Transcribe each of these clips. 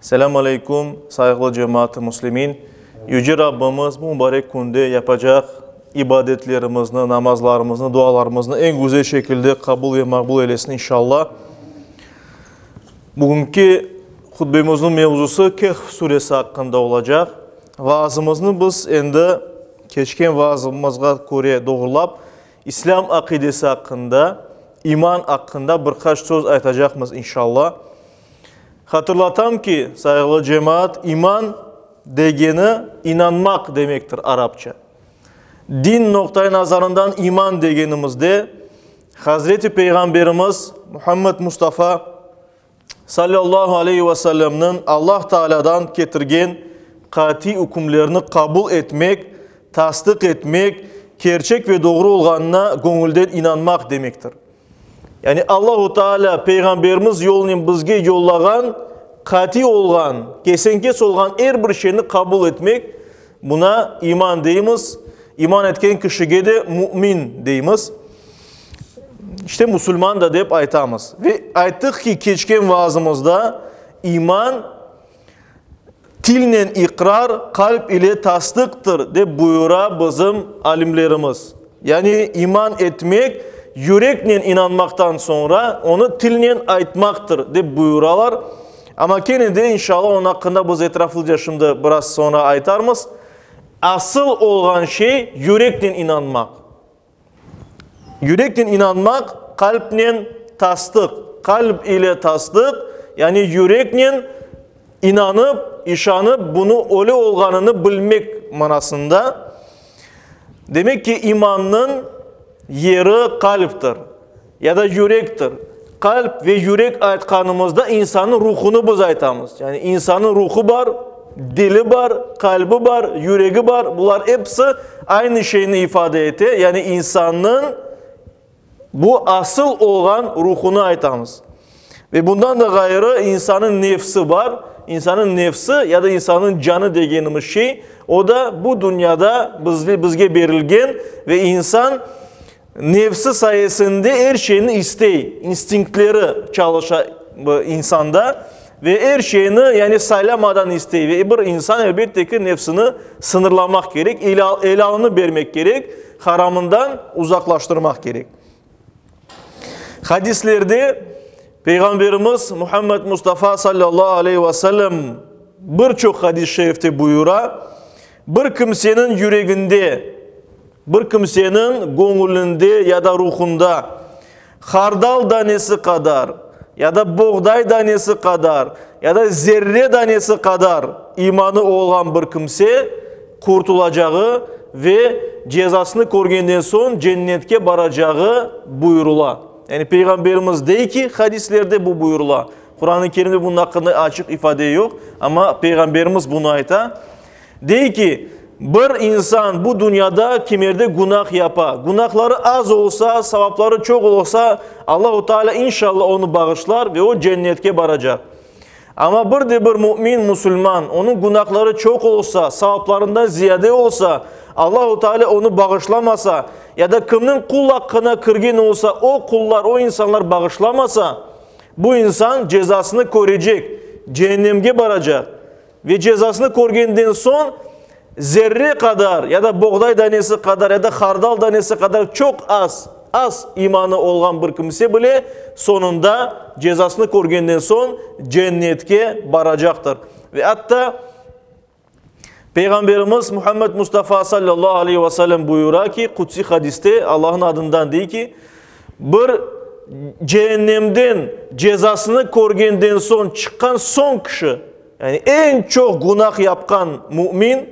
Selâm aleyküm, sayıqlı cemaat-ı muslimin! Yüce Rabbimiz bu mubarek künde yapacaq ibadetlerimizni, namazlarımıznı, dualarımıznı eñ güzel şekilde qabul ve maqbul eylesin, inşalla. Bugünki hutbemizniñ mevzusı Kehf suresi aqqında olacaq. Vaazımıznı biz endi keçken vaazımızğa köre doğrulap, İslâm aqidesi aqqında, iman aqqında bir qaç söz aytacaqmız, inşalla. Hatırlatam ki, sayğılı cemaat, iman degeni inanmaq demektir arapça. Din noqtay nazarından iman degenimizde Hazreti Peyğamberimiz Muhammed Mustafa sallallahu aleyhi ve sellemniñ Allah Taalâdan ketirgen qatiy ükümlerini qabul etmek, tasdıq etmek, kerçek ve doğru olğanına göñülden inanmaq demektir. Yani Allahu Taalâ Peyğamberimiz yolunen bizge yollağan qatiy olğan, kesenkes olğan er bir şeyni qabul etmek, buna iman deymiz, iman etken kişige de mümin deymiz. İşte musulman da dep aytamız. Ve ayttıq ki, keçken vaazımızda iman, Tilnen iqrar, qalp ile tasdıqtır, dep buyura bizim alimlerimiz. Yani iman etmek, yüreknen inanmaqtan soñra, onı tilnen aytmaqtır, dep buyuralar. Amma kene de, inşallah, onı aqqında biz etraflıca şimdi biraz soñra aytarmız. Asıl olğan şey, yüreknen inanmaq. Yüreknen inanmaq, qalbnen tasdıq. Qalb ile tasdıq, yani yüreknen inanıp, işanıp, bunı öyle olğanını bilmek manasında. Demek ki, imannıñ yeri qalbtir. Ya da yürektir. Qalp ve yürek aytqanımızda insannıñ ruhunı biz aytamız. Yani insannıñ ruhu bar, dili bar, qalbi bar, yüregi bar. Bular episi aynı şeyni ifade ete, yani insannıñ bu asıl olğan ruhunı aytamız. Ve bundan da ğayrı, insannıñ nefsi bar. İnsannıñ nefsi ya da insannıñ canı degenimiz şey, o da bu dünyada bizge berilgen ve insan nefsi sayesinde er şeyni istey, instinktleri çalışa bu insanda ve er şeyni, yani saylamadan istey. Ve bir insan, elbette ki, nefsini sıñırlamaq kerek, elalını bermek kerek, haramından uzaqlaştırmaq kerek. Hadislerde Peyğamberimiz Muhammed Mustafa sallallahu aleyh ve sellem bir çoq hadis-i şerifte buyura, Bir kimseniñ yüreginde, bir kimseniñ göñülinde ya da ruhunda hardal danesi qadar ya da boğday danesi qadar ya da zerre danesi qadar imanı olğan bir kimse, qurtulacağı ve cezasını körgenden soñ cennetke baracağı buyurıla. Yani Peyğamberimiz dey ki, hadislerde bu buyurıla. Quran-ı Kerimde bunun aqqında açıq ifade yoq, amma Peyğamberimiz bunı ayta. Dey ki, bir insan bu dünyada kimerde günah yapa, günahları az olsa, savapları çoq olsa, Allahu Teala inşallah onı bağışlar ve o cennetke baracaq. Amma bir de bir mümin, musulman, onıñ günahları çoq olsa, savaplarından ziyade olsa, Allahu Teala onı bağışlamasa, ya da kimniñ qul aqqına kirgen olsa, o qullar, o insanlar bağışlamasa, bu insan cezasını körecek, ceennemge baracaq. Ve cezasını körgenden soñ, zerre qadar ya da boğday danesi qadar ya da hardal danesi qadar çoq az, az imanı olğan bir kimse bile soñunda, cezasını körgenden soñ, Cennetke baracaqtır. Ve atta Peyğamberimiz Muhammed Mustafa sallallahu aleyhi ve sellem buyura ki, qudsiy hadiste Allah'ın adından dey ki, Bir Cehennemden cezasını körgenden soñ çıqqan soñ kişi, yani eñ çoq gunah yapqan mümin,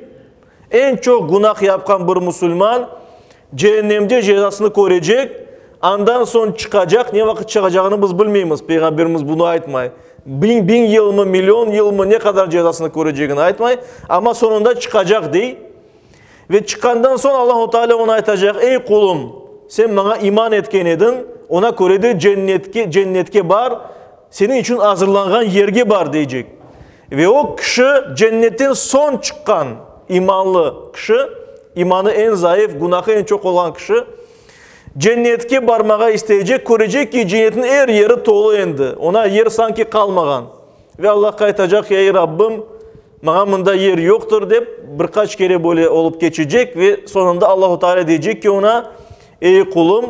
eñ çoq gunah yapqan bir musulman Cehennemde cezasını körecek, andan soñ çıqacaq, ne vaqıt çıqacağını biz bilmeymiz, Peyğamberimiz bunı aytmay. Biñ, biñ yılmı, million yılmı, ne qadar cezasını körecegini aytmay, amma soñunda çıqacaq, dey. Ve çıqqandan soñ Allahu Teala oña aytacaq, Ey, qulum, sen maña iman etken ediñ, oña köre de cennetke, cennetke bar, seniñ içün azırlanğan yerge bar, deycek. Ve o kişi cennetten soñ çıqqan imanlı kişi, imanı eñ zayıf, günahı eñ çoq olğan kişi, cennetke barmağa isteycek, körecek ki, cennetniñ er yeri tolu endi, oña yer sanki qalmağan. Ve Allahqa aytacaq, Ey, Rabbim, Maña mında yer yoqtır, dep, bir qaç kere böyle olıp keçecek ve soñunda Allahu Teala deycek ki oña, Ey qulum,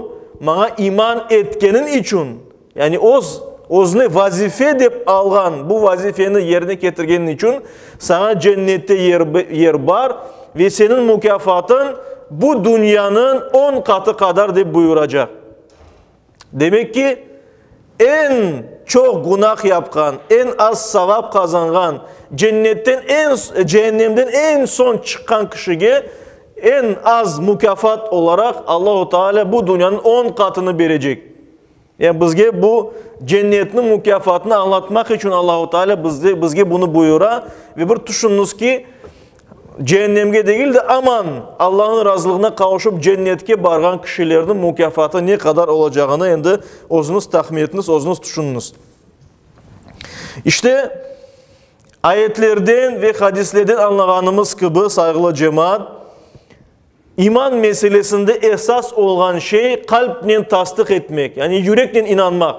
maña iman etkeniñ içün, yani öz, özüne vazife dep alğan bu vazifeni yerine ketirgeniñ içün saña cennette yer, yer bar ve seniñ mukâfatıñ bu dünyanıñ on qatı qadar, dep buyuracaq. Demek ki, eñ çoq gunah yapqan, eñ az savap qazanğan, cennetten eñ, cehennemden eñ soñ çıqqan kişige eñ az mukâfat olaraq Allahu Teala bu dünyanıñ on qatını berecek. Yani bizge bu cennetniñ mukâfatını añlatmaq içün Allahu Teala bizge bunu buyura ve bir tüşüñiz ki, Cehennemge degil de, aman, Allanıñ razılığına qavuşıp cennetke barğan kişilerniñ mukâfatı ne qadar olacağını endi özüñiz tahmin etiniz, özüñiz tüşüniñiz. İşte, ayetlerden ve hadislerden añlağanımız kibi, sayğılı cemaat, İman meselesinde esas olğan şey qalbnen tasdıq etmek, yani yüreknen inanmaq.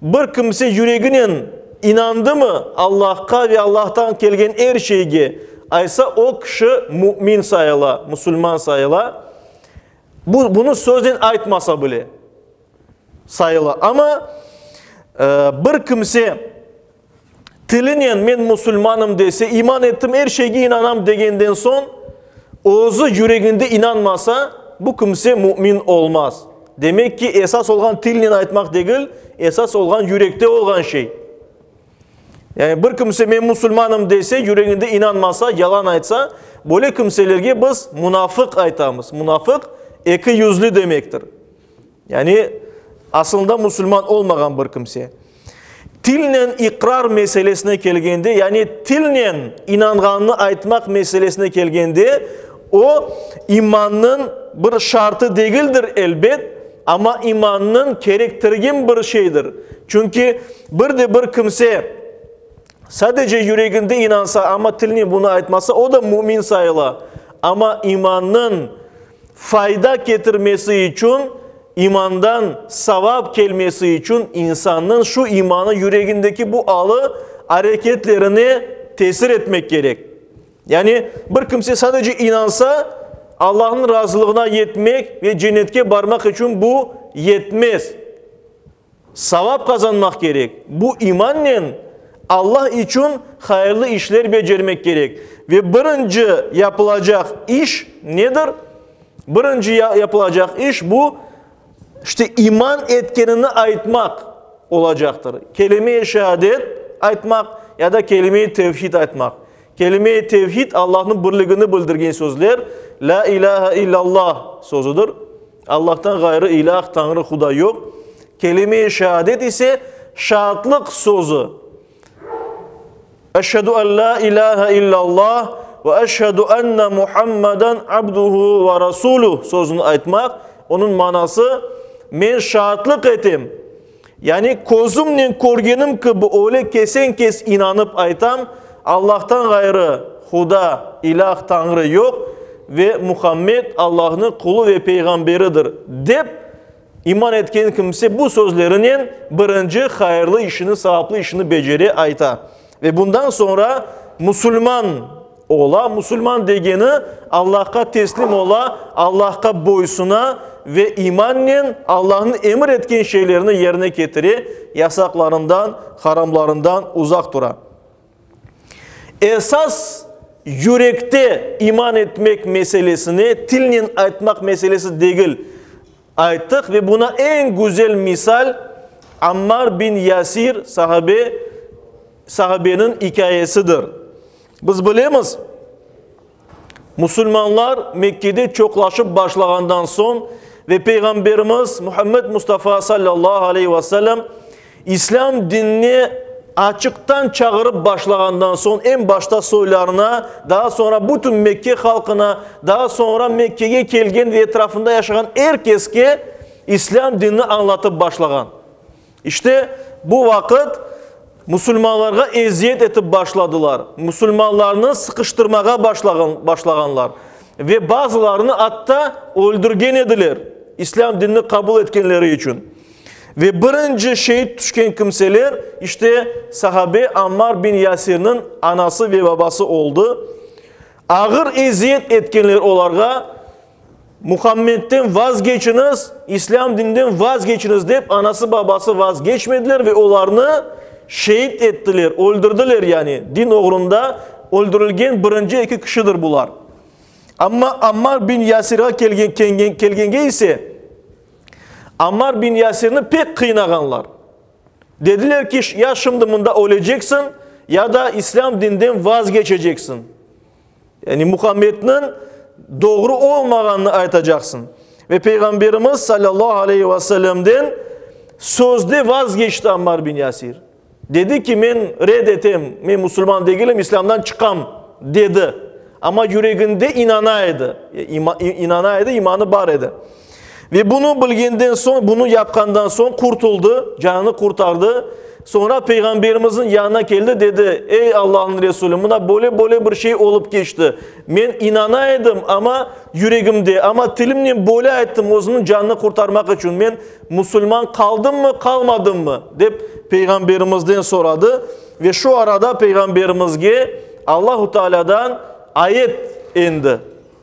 Bir kimse yüreginen inandımı Allahqa ve Allahtan kelgen er şeyge, aysa o kişi mümin sayıla, musulman sayıla. Bu, bunı söznen aytmasa bile sayıla. Amma bir kimse Tilinen men musulmanım dese, iman ettim, er şeyge inanam degenden soñ, özü yüreginde inanmasa, bu kimse mümin olmaz. Demek ki, esas olğan tilinen aytmaq degil, esas olğan yürekte olğan şey. Yani bir kimse men musulmanım dese, yüreginde inanmasa, yalan aytsa, böyle kimselerge biz munafıq aytamız. Munafıq, eki yüzlü demektir. Yani, asılında musulman olmağan bir kimse. Tilnen iqrar meselesine kelgende, yani tilnen inanğanını aytmaq meselesine kelgende, o, imannıñ bir şartı degildir, elbet, amma imannıñ kerektirgen bir şeydir. Çünki bir de bir kimse sadece yüreginde inansa, amma tilnen bunı aytmasa, o da mümin sayıla. Amma imannıñ Fayda ketirmesi içün, imandan savap kelmesi içün insannıñ şu imanı yüregindeki bu alı areketlerine tesir etmek kerek. Yani, bir kimse sadece inansa, Allahnıñ razılığına yetmek ve cennetke barmaq içün bu yetmez. Savap qazanmaq kerek. Bu imannen Alla içün hayırlı işler becermek kerek. Ve birinci yapılacaq iş nedir? Birinci yapılacaq iş bu, işte iman etkenini aytmaq olacaqtır. Kelime-i şehadet aytmaq ya da kelime-i tevhid aytmaq. Kelime-i tevhid Allanıñ birligini bildirgen sözler, La ilahe illallah sözüdir. Allahtan ğayrı ilâh, Tañrı, Huda, yoq. Kelime-i şeadet ise şaatlıq sözü. Eşhedü en lâ ilâhe illâllah ve eşhedü enne Muhammeden abduhu ve rasuluh sözüni aytmaq, onıñ manası, Men şaatlıq etem, Yani, közümnen körgenim kibi öyle kesen-kes inanıp aytam, Allahtan ğayrı Huda, ilâh, Tañrı, yoq ve Muhammed Allahnıñ qulu ve peyğamberidir, dep, iman etken kimse bu sözlerinen birinci hayırlı işini, savaplı işini becere, ayta. Ve bundan soñra musulman. Ola, musulman degeni, Allahqa teslim ola, Allahqa boysuna ve imannen Allahnıñ emir etken şeylerini yerine ketire, yasaqlarından, haramlarından uzaq tura. Esas yürekte iman etmek meselesini tilnen aytmaq meselesi degil, ayttıq ve buna eñ güzel misal Ammar bin Yasir sahabe, sahabeniñ ikâyesidir. Biz bilemiz, musulmanlar Mekkede çoqlaşıp başlağandan soñ ve Peyğamberimiz Muhammed Mustafa sallallahu aleyhi ve sellem İslâm dinine açıqtan çağırıp başlağandan soñ, eñ başta soylarına, daa soñra bütün Mekke halqına, daa soñra Mekkege kelgen ve etrafında yaşağan er keske İslâm dinini añlatıp başlağan. İşte, bu vaqıt musulmanlarğa eziyet etip başladılar, musulmanlarnı sıqıştırmağa başlağanlar ve bazılarını atta öldürgen ediler, İslâm dinini qabul etkenleri içün. Ve birinci şehit tüşken kimseler, işte, sahabe Ammar bin Yasirniñ anası ve babası oldı. Ağır eziyet etkenler olarğa. Muhammedden vazgeçiñiz, islâm dinden vazgeçiñiz dep anası-babası vazgeçmediler ve olarnı şeet ettiler, öldürdiler, yani din oğrunda öldürilgen birinci eki kişidir bular. Amma Ammar bin Yasirğa kelgenge ise, Ammar bin Yasirni pek qıynağanlar. Dediler ki, ya şimdi mında öleceksiñ, ya da islâm dinden vazgeçeceksiñ. Yani Muhammedniñ doğru olmağanını aytacaqsıñ. Ve Peyğamberimiz salâllahu aleyhi ve sellemden sözde vazgeçti Ammar bin Yasir. Dedi ki, men red etem, men musulman degilim, İslâmdan çıqam, dedi. Amma yüreginde inana edi, inana edi, imanı bar edi. Ve bunı bilgenden soñ, bunı yapqandan soñ qurtuldı, canını qurtardı. Soñra Peyğamberimizniñ yanına keldi, dedi, Ey Allahnıñ Resulü, mına böyle-böyle bir şey olıp keçti. Men inana edim, amma yüregimde, amma tilimnen böyle ayttım, özümniñ canını qurtarmaq içün. Men musulman qaldımmı, qalmadımmı? dep Peyğamberimizden soradı. Ve şu arada Peyğamberimizge Allahu Tealâdan ayet endi.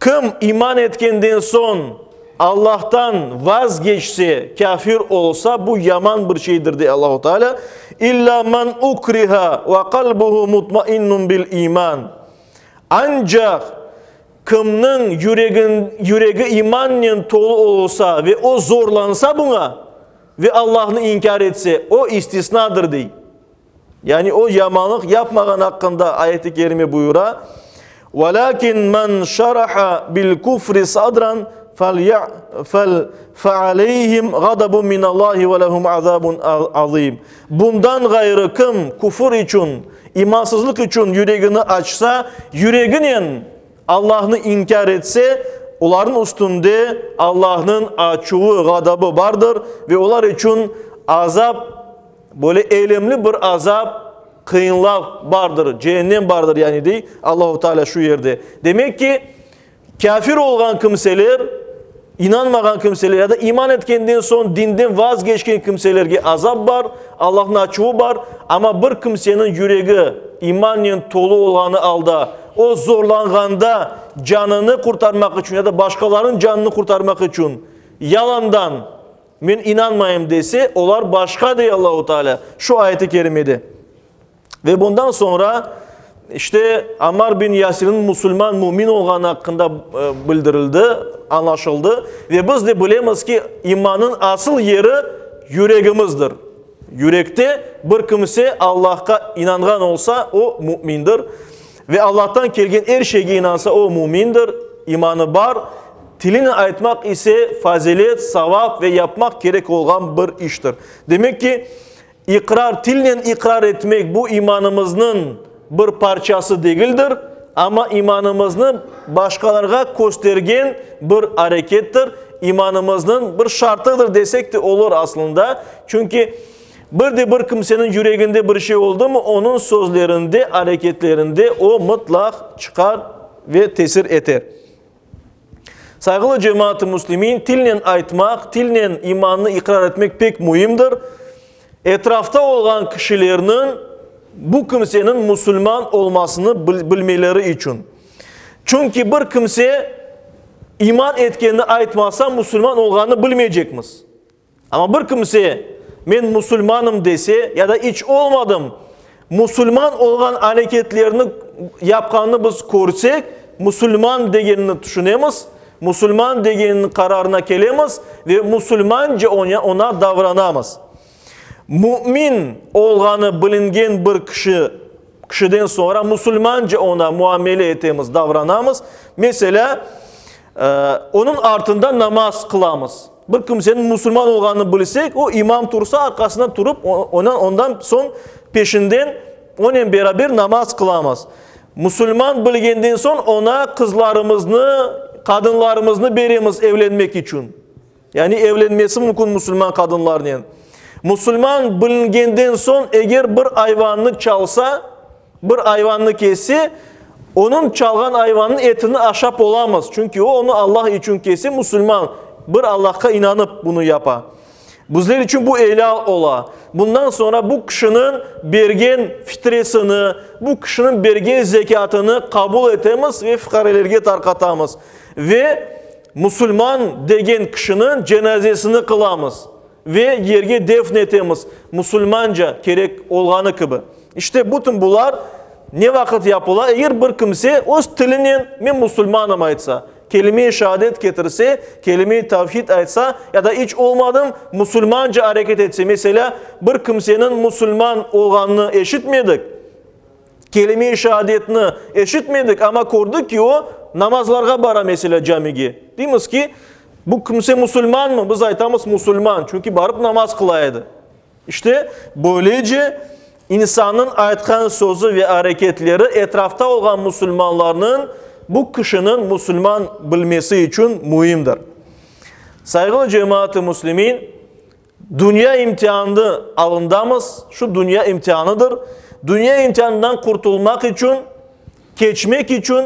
Kim iman etkenden soñ Allahtan vazgeçse, kâfir olsa, bu yaman bir şeydir, dey Allahu Teala, İlla men ukriha ve kalbuhu mutmainnun bil iman. Ancaq kimniñ yüregi imannen tolu olsa ve o zorlansa buña ve Allahnı inkâr etse, o istisnadır, dey. Yani o yamanlıq yapmağan aqqında ayet-i kerime buyura, Velâkin men şaraha bil küfri sadran fel fealeyhim gadabun minallâhi ve lehum azabun azim. Bundan ğayrı kim küfür içün, imansızlıq içün yüregini açsa, yüreginen Allahnı inkâr etse, olarnıñ üstünde Allahnıñ açuvı, gadabı bardır ve olar içün azap Böyle elemli bir azap, qıyınlav bardır, cehennem bardır yani dey Allahu Teala şu yerde. Demek ki, kâfir olğan kimseler, inanmağan kimseler ya da iman etkenden soñ dinden vazgeçken kimselerge azap bar, Allahnıñ açuvı bar. Amma bir kimseniñ yüregi imannen tolu olğanı alda, o zorlanğanda canını qurtarmaq içün ya da başqalarınıñ canını qurtarmaq içün yalandan, Men inanmayım dese, olar başqa, dey Allahu Teala şu ayet-i kerimede. Ve bundan soñra, işte, Ammar bin Yasirniñ musulman, mümin olğanı aqqında bildirildi, añlaşıldı. Ve biz de bilemiz ki, imannıñ asıl yeri yüregimizdir. Yürekte bir kimse Allahqa inanğan olsa, o mümindir. Ve Allahtan kelgen er şeyge inansa, o mümindir, imanı bar, tilinen aytmaq ise fazilet, savap ve yapmaq kerek olğan bir iştir. Demek ki, iqrar, tilnen iqrar etmek bu imanımıznıñ bir parçası degildir, amma imanımıznı başqalarğa köstergen bir arekettir, imanımıznıñ bir şartıdır desek de olur aslında, çünki, Bir de bir kimseniñ yüreginde bir şey oldımı, onıñ sözlerinde, areketlerinde o mıtlaq çıqar ve tesir eter. Sayğılı cemaat-ı müslimin, tilnen aytmaq, tilnen imannı iqrar etmek pek müimdir. Etrafta olğan kişilerniñ bu kimseniñ musulman olmasını bilmeleri içün. Çünki bir kimse iman etkenini aytmasa, musulman olğanını bilmeycekmiz. Amma bir kimse, men musulmanım dese ya da iç olmadım, musulman olğan areketlerni yapqanını biz körsek, musulman degenini tüşünemiz, musulman degeniniñ qararına kelemiz ve musulmance oña davranamız. Mümin olğanı bilingen bir kişi Kişiden soñra musulmance oña muamele etemiz, davranamız. Meselâ, onıñ artında namaz qılamız. Bir kimseniñ musulman olğanını bilsek, o, imam tursa, arqasından turıp, ondan soñ peşinden onen beraber namaz qılamız. Musulman bilgenden soñ oña qızlarımıznı, qadınlarımıznı beremiz evlenmek içün. Yani evlenmesi mümkün musulman qadınlarnen. Musulman bilingenden soñ eger bir ayvannı çalsa, bir ayvannı kesse, onıñ çalğan ayvanınıñ etini aşap olamız, çünki o, onı Allah içün kese, musulman, bir Allahqa inanıp bunı yapa. Bizler içün bu elâl ola. Bundan soñra bu kişiniñ bergen fitresini, bu kişiniñ bergen zekâtını qabul etemiz ve fuqarelerge tarqatamız. Ve. Musulman degen kişiniñ cenazesini qılamız ve yerge defn etemiz musulmanca kerek olğanı kibi. İşte bütün bular ne vaqıt yapıla? Eger bir kimse öz tilinen men musulmanım aytsa, kelime-i şaadet ketirse, kelime-i tavhid aytsa ya da iç olmadım musulmanca areket etse, meselâ, bir kimseniñ musulman olğanını eşitmedik, Kelime-i şeadetni eşitmedik, amma kördik ki, o namazlarğa bara, meselâ, camige. Deymiz ki, bu kimse musulmanmı? Biz aytamız, musulman, çünki barıp namaz qıla edi. İşte, böylece insannıñ aytqan sözü ve areketleri etrafta olğan musulmanlarnıñ bu kişiniñ musulman bilmesi içün müimdir. Sayğılı cemaat-ı muslimin! Dünya imtianı alındamız, şu dünya imtianıdır. Dünya imtianından qurtulmaq içün, keçmek içün,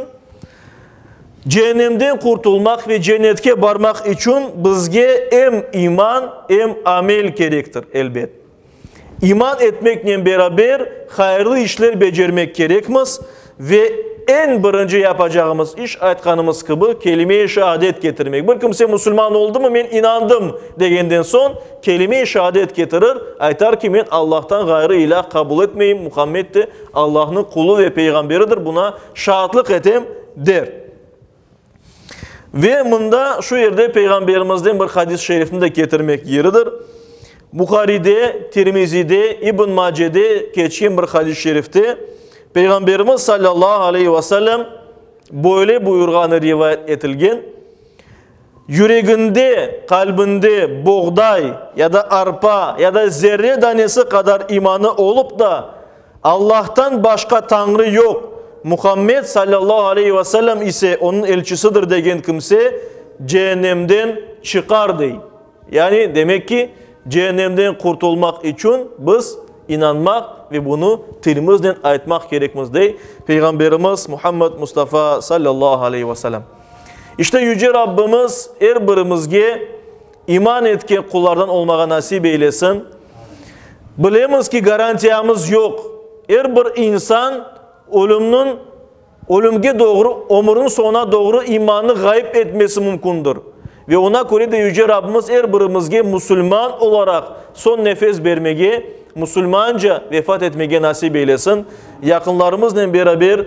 cehennemden qurtulmaq ve cennetke barmaq içün bizge em iman, em amel kerektir, elbet. İman etmeknen beraber hayırlı işler becermek kerekmiz, Ve eñ birinci yapacağımız iş, aytqanımız kibi, kelime-i şaadet ketirmek. Bir kimse musulman oldımı, men inandım, degenden soñ, kelime-i şaadet ketirir, aytar ki, men Allahtan ğayrı ilâh qabul etmeyim, Muhammed de Allahnıñ qulu ve peyğamberidir, buna şaatlıq etem, der. Ve mında, şu yerde Peyğamberimizden bir hadis-i şerifni de ketirmek yeridir. Buharide, Tirmizide, İbn Macede keçken bir hadis-i şerifte Peyğamberimiz sallallahu aleyhi ve sellem böyle buyurğanı rivayet etilgen, Yüreginde, qalbinde boğday ya da arpa ya da zerre danesi qadar imanı olıp da, Allahtan başqa Tañrı yoq, Muhammed sallallahu aleyhi ve sellem ise onıñ elçisidir degen kimse ceennemden çıqar, dey. Yani, demek ki, ceennemden qurtulmaq içün biz inanmaq ve bunı tilimiznen aytmaq kerekmiz, dey Peyğamberimiz Muhammed Mustafa sallallahu aleyhi ve sellem. İşte Yüce Rabbimiz er birimizge İman etke qullardan olmağa nasip eylesin. Bilemiz ki, garantiyamız yoq. Er bir insan ölümniñ, ölümge doğru, ömürniñ soñuna doğru imanını ğayıp etmesi mümkündir. Ve oña köre de Yüce Rabbimiz er birimizge musulman olaraq soñ nefes bermege, musulmanca vefat etmege nasip eylesin. Yaqınlarımıznen beraber.